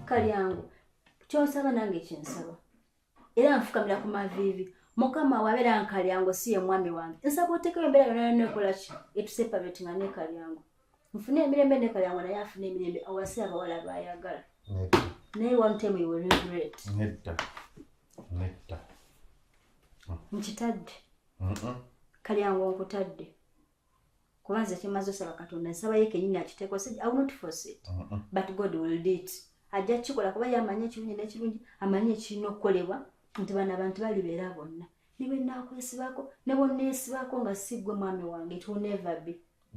kalyangu kyonsaba nange kyensaba era nfukamira ku maviivi mukama wabeera nkalyango si ye mwami wange nsaba otekewo embeera yona yona ekola ki etuseparate nga nekalyango nfune emirembe nekalyango naye afune emirembe awasi abawala bayagala naye one time you will regret netta netta nkitadde kalyango nkutadde kuba nze kyemaze osaba katonda nsaba ye kenyini akiteeko said i will not force it uh -uh. but god will do it ajja kukikola kuba yamanyi ekirungi n'ekirungi amanyi ekirina okukolebwa nti bano abantu balibeera bonna ne bwe naakwesibako ne bwonneesibako nga si ggwe mwami wange it will never be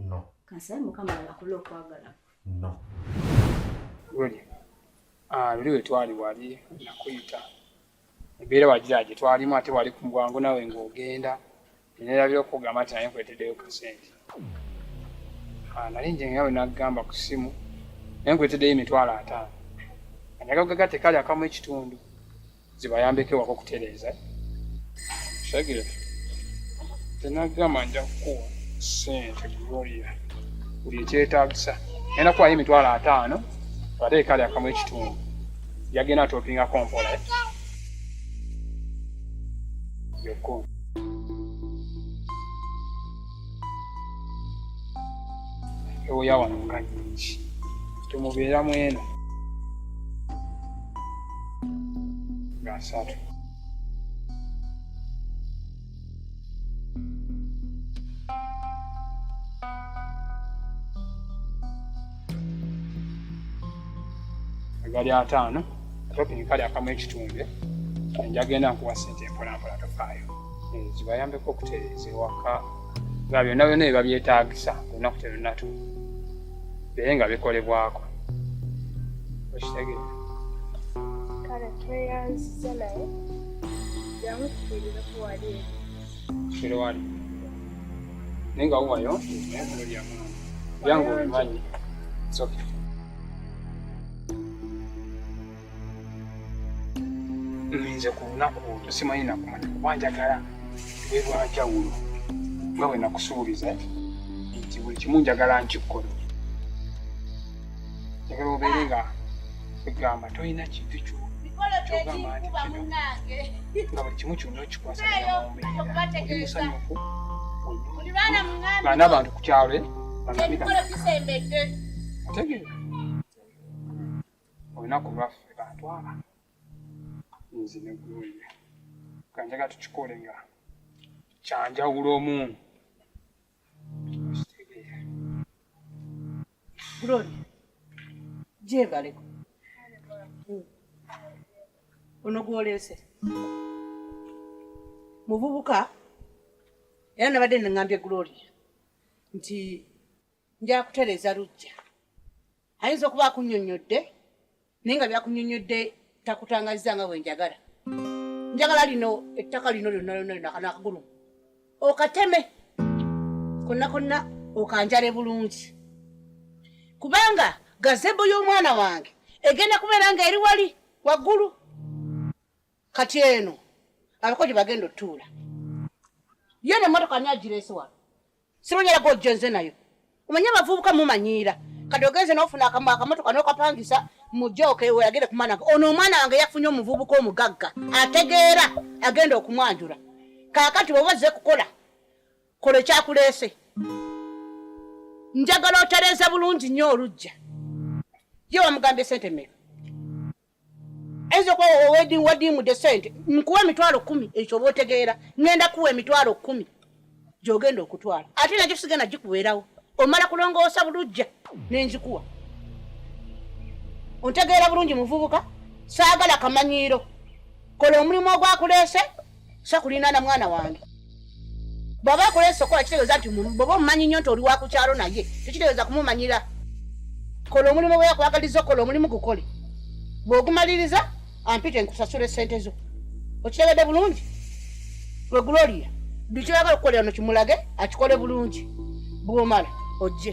no kansabe mukama alakule okwagala no luli ah, luli wetwali wali nakuyita embeera wagira gye twalimu ate wali ku bwangu nawe ng'ogenda nerabira okugamba nti naye nkwetedeyo kasente ah, nali nje ngawe nagamba ku simu naye nkwetedeyo emitwalo ataano anyagagugaga tekali akamu ekitundu zibayambeko ewaka okutereeza shagire tenagamba nja kukuwa sente gloria buli ekyetagisa naye nakuwayo emitwalo ataano ate ekali akamu ekitundu yagenda atopingako mpola eh? yoko ewoya wano nga nyingi temubeera mwena nga asatu gali ataano atopini kali akamu ekitunde njagenda nkuwa sente empolampola tofaayo eh, zibayambeko okutereeza ewaka nga byonna byonna ebibabyetaagisa olunaku terunatu bere nga bikolebwako okitegeera kale tweyanziza naye Kiri wali. Ninga uwayo. Byangu bimanyi. It's okay. nze ku lunaku olwo simanyi nakumanya kuba njagala lwe lwanjawulo nga bwe nakusuubiza nti buli kimu njagala nkikkola njagala obeere nga egamba tolina kintu kyogamba nti kino nga buli kimu kyonna okikwasaamusanyufu baana bantu ku kyalo eh? otegeera olunaku lwaffe bantwala nze negulweye kanjaga tukikole nga kyanjawulo omu Gloria, gyebaleko ono gwoleese muvubuka era nabadde nengambye Gloria nti njakutereeza lujja ayinza okuba akunyonyodde naye nga byakunyonyodde takutangazza nga bwenjagala njagala lino ettaka lino lyonna lyonna lino akana akagulu okateme konna konna okanjale bulungi kubanga gazebo y'omwana wange egenda kubeera nga eri wali waggulu kati eno abako gye bagenda otuula yo ne motoka ani agireese wano simunyera gojjo nze nayo omanye abavubuka mumanyiira kati ogenze nofuna akamotoka nokapangisa mujoke weyagere kumwana ono omwana wange yafunye omuvubuka omugagga ategeera agenda okumwanjula kakati bwoba ozze kukola kola ekyakuleese njagala otereeza bulungi nnyo olujja ye wamugambye sente mmeka ayinza okuba wedding wadiimudde sente nkuwa emitwalo kumi ekyo oba otegeera ngenda kuwa emitwalo kumi gyogenda okutwala ate nakyo sigenda gikubeerawo omala kulongoosa bulujja nenzikuwa ontegeera bulungi muvubuka saagala kamanyiiro kola omulimu ogwakuleese sakulinaana mwana wange bwaba akola esokola kitegeeza nti bwoba omumanyi nnyo nti oli wa ku kyalo naye tekitegeeza kumumanyira kola omulimu gwe yakwagaliza okola omulimu gukole bw'ogumaliriza ampite nkusasula esente zo okitegedde bulungi lwe gloria buli kyoyagala okukolera no kimulage akikole bulungi bw'omala ojje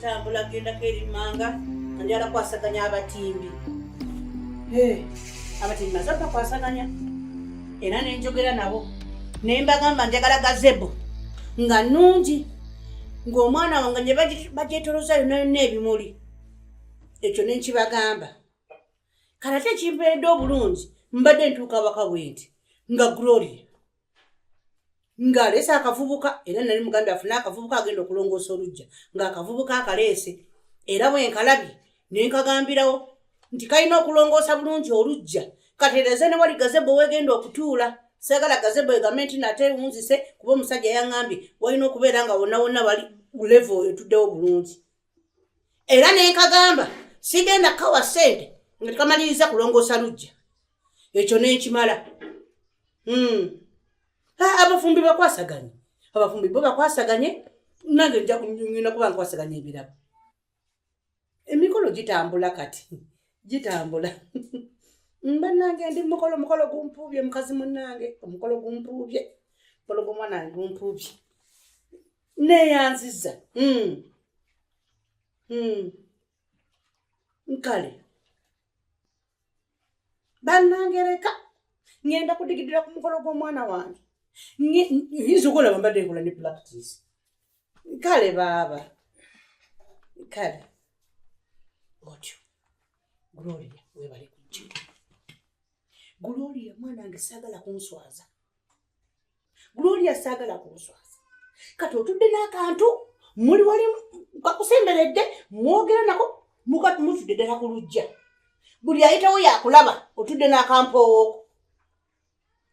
tambula gendako eri manga anjala kwasaganya abatimbi abatimbi maze bakwasaganya era nenjogera nabo naye mbagamba njagala gazebo nga nungi ng'omwana wange ne bagyetoloza yona yonna ebimuli ekyo nenkibagamba kanate ekimperedde obulungi mbadde ntuuka waka bwenti nga gloria ng'aleese akavubuka era nali muganda afune akavubuka agenda okulongoosa olujja ng'akavubuka akaleese era bwe nkalabye ne nkagambirawo nti kalina okulongoosa bulungi olujja katereeze ne wali gazebo wegenda okutuula sagala gazebo egambe nti nate wunzise kuba omusajja yaŋambye walina okubeera nga wonna wonna bali levo etuddewo bulungi era nenkagamba sigenda kawa sente nga tekamaliriza kulongoosa lujja ekyo nenkimala hmm. abafumbi bakwasaganye abafumbi bo bakwasaganye nange njakunyina kuba nkwasaganye ebirabo emikolo gitambula kati gitambula mbanange ndi mukolo omukolo gumpuubye mukazi munange omukolo gumpuubye omukolo gomwana gumpuubye neyanziza mm. mm. nkale banangereka ngenda kudigidira ku mukolo gw'omwana wange yinza okulaba mbadde nkola ne practice kale baaba kale otyo gloria webale kujja gloria mwana wange saagala kunswaza gloria saagala kunswaza kati otudde n'akantu muli wali kakusemberedde mwogera nako mukati mutudde ddala ku lujja buli ayitawo yakulaba otudde n'akampoowooko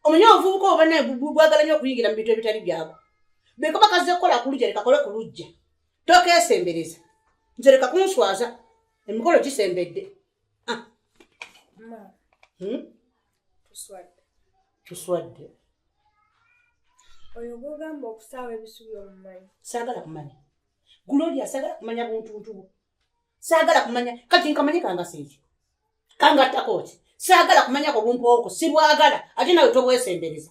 omanyi obuvubuka obana bwagala nyo okuyingira mu bintu ebitali byabo bekaba kazze kukola ku lujja lekakole ku lujja tokeesembereza nze leka kunswaza emikolo gisembedde ah. hmm? tuswadde tuswadde oyo gwogamba okusaawa ebisubi omumanyi saagala kumanya gloria saagala kumanya buntuntubu saagala kumanya kati nkamanye kangasa ekyo kangattako ki saagala kumanyako bumpooko sibwagala ate nawe tobwesembereza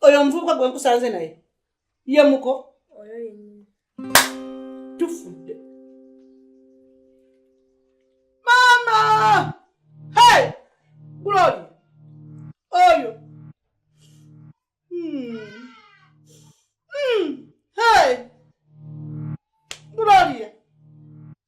oyo omuvubuka gwe nkusanze naye ye muko tufudde maama hey glory oyo hmm. Hmm. hey gloria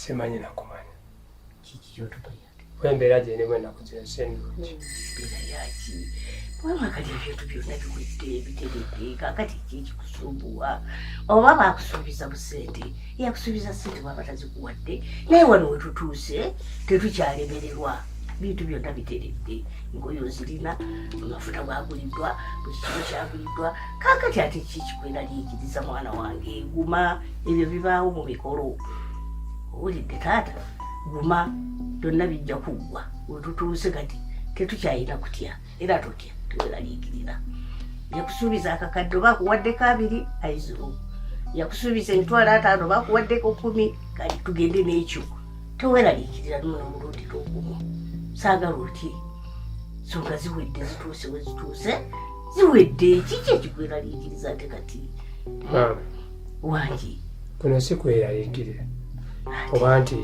simanyi nakumanya wembeera gyenemu enaku zensenulungi kubanga kati ebintu byonna biwedde biteredde kakati kyekikusumbuwa oba bakusuubiza busente yakusuubiza sente bwaba tazikuwadde naye wano wetutuuse tetukyalemererwa bintu byonna biteredde engoye ozirina amafuta gwaguliddwa buli kimu kyaguliddwa kakati ate kikikwera lyigiriza mwana wange guma ebyo bibaawo mu mikolo owulidde taata guma byonna bijja kuggwa wetutuuse kati tetukyayina kutya era totya teweraliikirira yakusuubiza akakadde oba akuwaddeko abiri aiziro yakusuubiza emitwalo ataano oba akuwaddeko kumi kali tugende n'ekyo teweraliikirira nono omulundi lwogumu saagala oti songa ziwedde zituuse we zituuse ziwedde kiki ekikweraliikiriza ate kati wangi kuno si kweraliikirira oba nti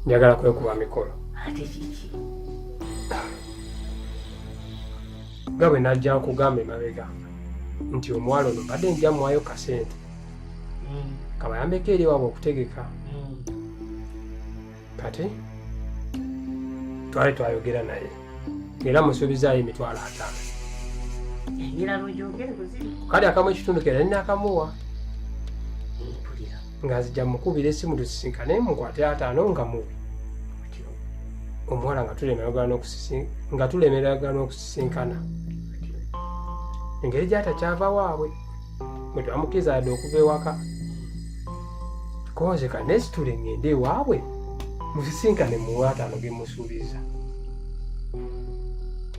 njagala kwekuba mikolo ate kiki nga bwe najja nkugamba emabega nti omuwala ono mbadde nja muwayo kasente mm. kabayambeko eri wabwe okutegeka mm. kati twali twayogera naye era musuubizaayo emitwalo ataano kale akamu ekitundu kera nina akamuwa nga nzija mukubira esimu tusisinkane mukwate ataano nga mubi omuwala nga tulemeragana okusisinkana engeri gyatakyava waabwe mwetwamukkiriza yadde okuva ewaka konze ka nesitule ngende ewaabwe musisinkane muwataano gemusuubiza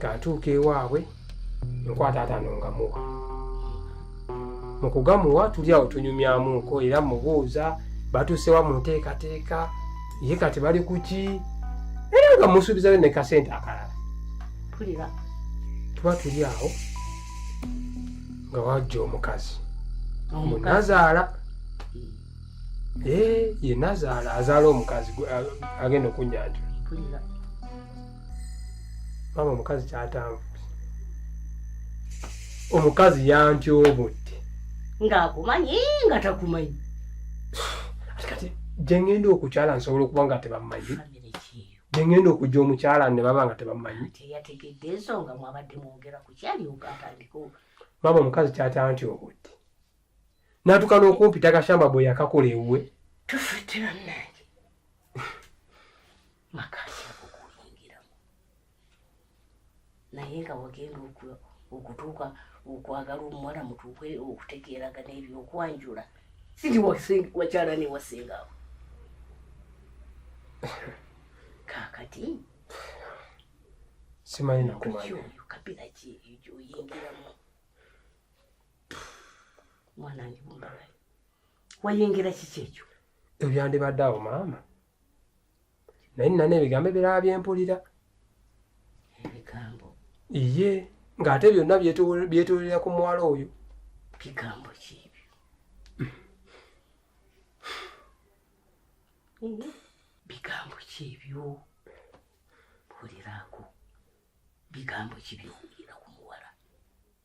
kantuuka ewaabwe nkwata atano nga muwa mu kugamuwa tuli awo tunyumyamuko era mubuuza batuusewa mu nteekateeka ye kati bali kuki era nga musuubizayo ne kasente akalala tuba tuli awo nga wajja omukazi munazaala ye nazaala azaala omukazi agenda okunyanjula maama omukazi kyatanvuti omukazi yantyobotte ng'akumanyi nga takumanyi ati kati gye ngenda okukyala nsobola okuba nga tebamumanyi famire kyeyo gye ngenda okujja omukyala ne baba nga tebamumanyi teyategedde ensonga mwabadde mwogera ku kyalyoka atandika maama omukazi kyatantyobotte natuuka n'okumpita akashamba bwe yakakola ewuwe tufudde bannange makati okuyingiramu naye nga wagenda okutuuka okwagala omuwala mutuuke okutegeeraga nebyokwanjula siti wakyala newasingawo kakati simanyi nakumanya kabira ki oyingiramu mwanange bumbawe wayingira kiki ekyo ebyandibadde awo maama naye nina n'ebigambo ebirala bye mpulira ebigambo iye ng'ate byonna byetoolera ku muwala oyo bigambo ki ebyo bigambo ki ebyo mpulirako bigambo ki byowulira ku muwala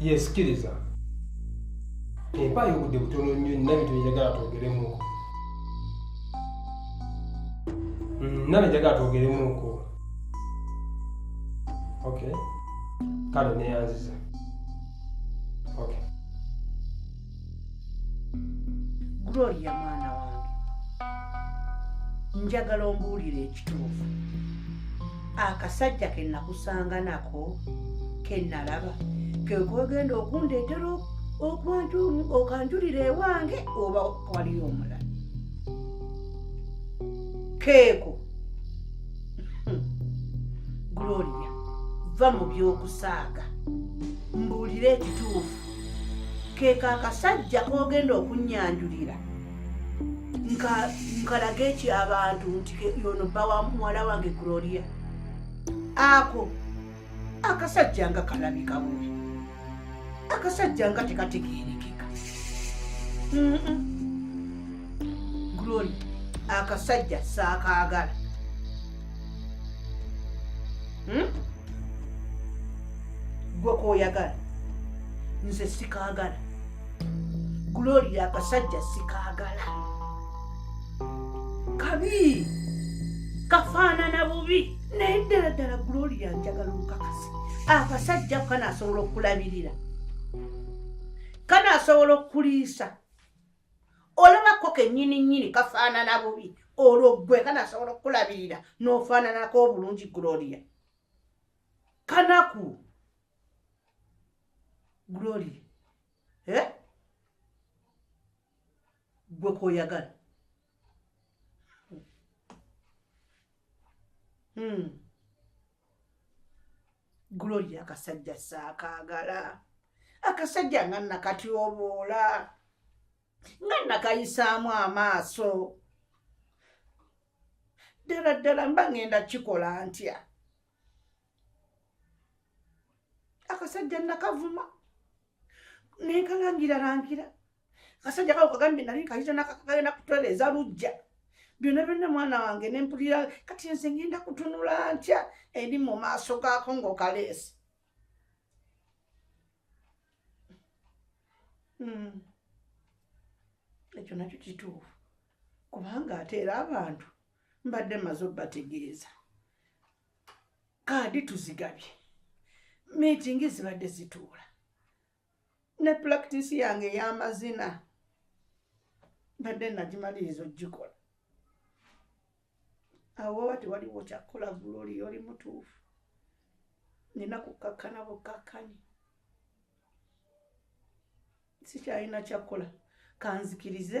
yesikiriza empayo obudde butono nnyo nina bintu byenjagala twogeremuko nina byenjagala twogeremuko ok kale neyanziza gloria mwana wange njagala ombuulire ekituufu akasajja ke nakusanga nako ke nalaba kekogenda okundeetera okanjulira ewange oba waliyo omulala keeko hmm. gloria va mu by'okusaaga mbuulire ekituufu keko akasajja kogenda okunyanjulira nkalaga ekyabantu nti yono bba wa muwala wange gloria ako akasajja nga kalabika bubi akasajja nga tekategerekeka gloria akasajja saakaagala hmm? gwe koyagala nze sikagala gloria akasajja sikagala kabi kafaanana bubi naye ddala ddala gloria njagala olukakasi akasajja kanasobola okulabirira kanasobola okuliisa olaba ko kenyini nyini kafaanana bubi olwo gwe kanasobola okukulabirira n'ofaananako obulungi gloria kanaku gloria eh? gwe koyagala hmm. gloria akasajja saakaagala akasajja nga nakatyoboola nga nakayisaamu amaaso ddala ddala mba ŋŋenda kikola ntya akasajja nakavuma nenkalangira langira kasajja kawo kagambye nali nkayita nakakagenda kutoleeza lujja byonna byonna mwana wange nempulira kati nze ngenda kutunula ntya eri mu maaso gaako ngaokaleesi hmm. ekyo nakyo kituufu kubanga ate era abantu mbadde maze obategeeza kaadi tuzigabye miitingi zibadde zituula ne pulakitisi yange ey'amazina mbadde nagimaliriza ogikola awo oba tewaliwo kyakukola guloli oli mutuufu nina kukkakkana bukkakkanyi sikyalina kyakukola kanzikirize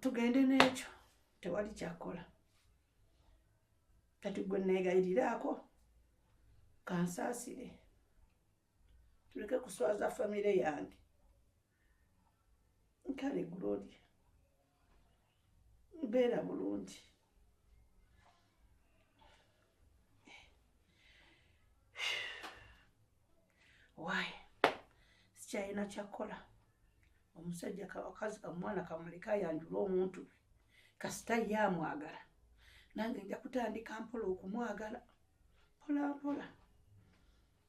tugende n'ekyo tewali kyakola kati gwe neegayiriraako kansaasire tuleke kuswaza famire yange nkale gloria mbeera bulungi why sikyalina kyakukola omusajja kawakazi kamwana kamuleka ayanjula omuntu kasita ye amwagala nange nja kutandika mpola okumwagala mpolampola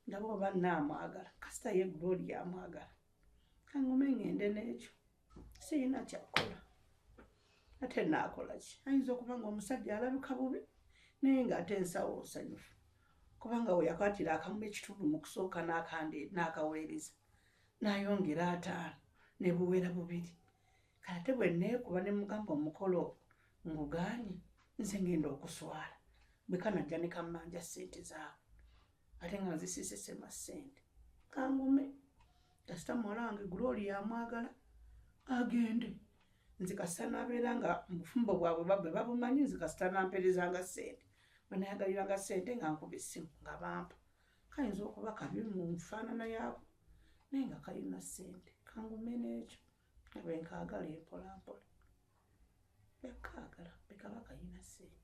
ndaba oba naamwagala kasita ye gloria amwagala kangume ngende n'ekyo siyina kyakukola ate naakola ki ayinza okuba nga omusajja alabika bubi naye ng'ate ensawo nsanyufu kubanga we yakwatira akamu ekitundu mu kusooka n'akandi n'akaweereza n'ayongera ataano ne buwera bubiri kate bwe neekuba ne mugamba omukolo ngugaanye nze ngenda okuswala bwe kanajja ne kammanja ssente zaabwe ate nga nzisisesema sente kangume kasita muwala wange glory yamwagala agende nze kasita nabeera nga mubufumbo bwabwe babwe babumanyi nze kasita namperezanga sente banayagaliranga sente nga nkuba essimu nga bampa kayinza okuba kabi mu nfaanana yaabo naye nga kalina sente kangume n'ekyo nabwe nkaagala empolampola bekaagala bekaba kalina sente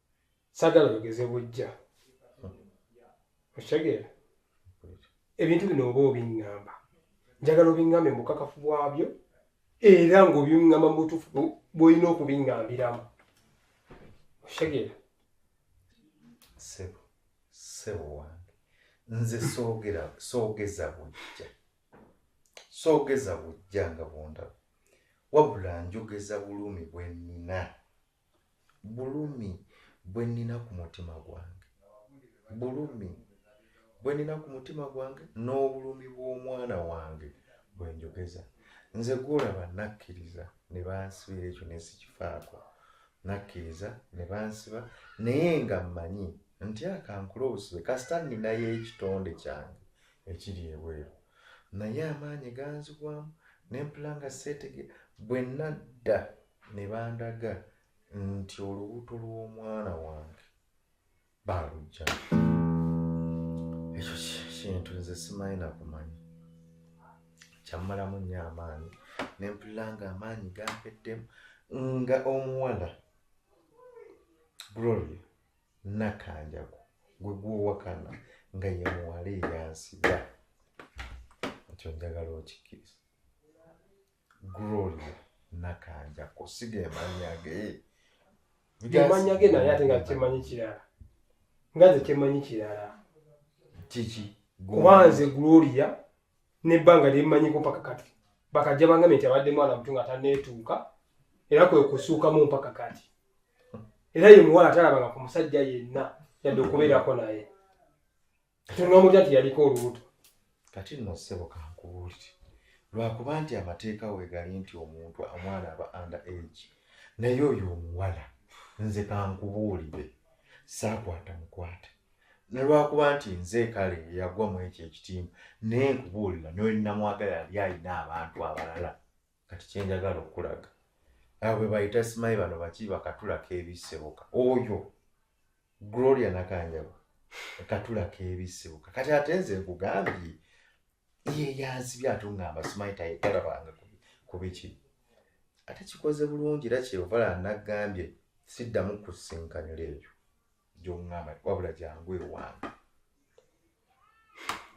sagala oyogeze bujja okitegeera ebintu bino oba obiŋŋamba njagala obiŋŋambe mu bukakafu bwabyo era ng'obiŋŋamba mu butuufu bw'olina okubiŋŋambiramu okitegeera sebo sebo wange nze soogera soogeza bujja soogeza bujja nga bundaba wabula njogeza bulumi bwe nnina Bulumi bwe nnina ku mutima gwange, bulumi bwe nnina ku mutima gwange, n'obulumi bw'omwana wange bwe njogeza. Nze gw'olaba nakkiriza ne bansibira ekyo ne sikifaako. Nakkiriza ne bansiba naye nga mmanyi nti akankula obusibe kasita nninayo ekitonde kyange ekiri ebweru. Naye amaanyi ganzigwamu ne mpula nga seetegeera bwe nadda. ne bandaga nti olubuto lw'omwana wange baalujja ekyo kintu nze simanyi nakumanya kyammalamu nnyo amaanyi ne mpulira nga amaanyi gampeddemu nga omuwala gloria nakanjaku gwe gwowakana nga ye muwala eyansiga ekyo njagala okikkiriza Gloria Nakanjako siga emanya ge emanya ge naye ate nga kyemanyi kirala nga nze kyemanyi kirala kiki kuba nze Gloria nebbanga lyemmanyiko mpaka kati bakajja bangamye nti abadde mwana mutu nga taneetuuka era kwe kusuukamu mpaka kati era ye muwala talabanga ku musajja yenna yadde okubeerako naye Tunomutya nti yaliko olubuto. Kati nno ssebo kankubuulire lwakuba nti amateeka wegali nti omuntu omwana aba under age naye oyo omuwala nze kankubuulire saakwata mukwate nalwakuba nti nze kale yagwa mu ekyo ekitimba naye nkubuulira nolinamwagala yali alina abantu abalala kati kyenjagala okulaga abo bebayita simayi bano baki bakatula kebiseboka oyo gloria nakanjaba katula kebiseboka kati ate nze nkugambye ye yanzibye atungamba simayi tayegala bange kubiki ate kikoze bulungi era kyeyovala nagambye siddamu kusinkanira ebyo gyongamba wabula jangu ewange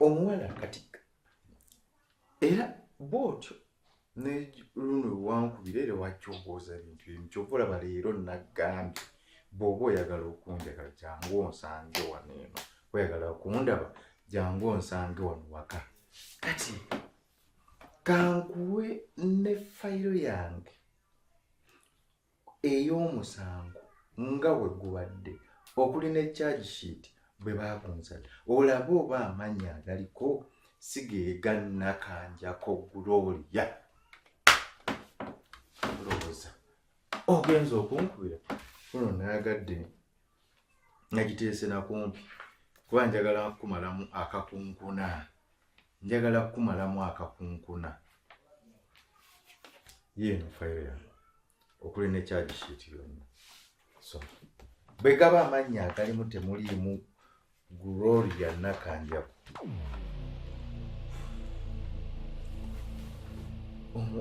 omuwala kati era bwotyo neluno wankubira era wakyogooza ebintu ebimu kyova olaba leero nagambye bwoba oyagala okunjagala jangu onsange wano eno oyagala okundaba jangu onsange wano waka kati kankuwe ne fayiro yange ey'omusango nga we gubadde okuli ne charge sheet bwe baakunzala olaba oba amannya agaliko sigeegannakanjako gulooliya olowooza ogenza okunkubira kuno naagadde nagiteese nakumpi kuba njagala kumalamu akakunkuna njagala kukumalamu akakunkuna yeeno fayiro yange okuli ne kyagi shiiti yonna so bwe gaba amannya agalimu temuliimu gloria nakanjaku omu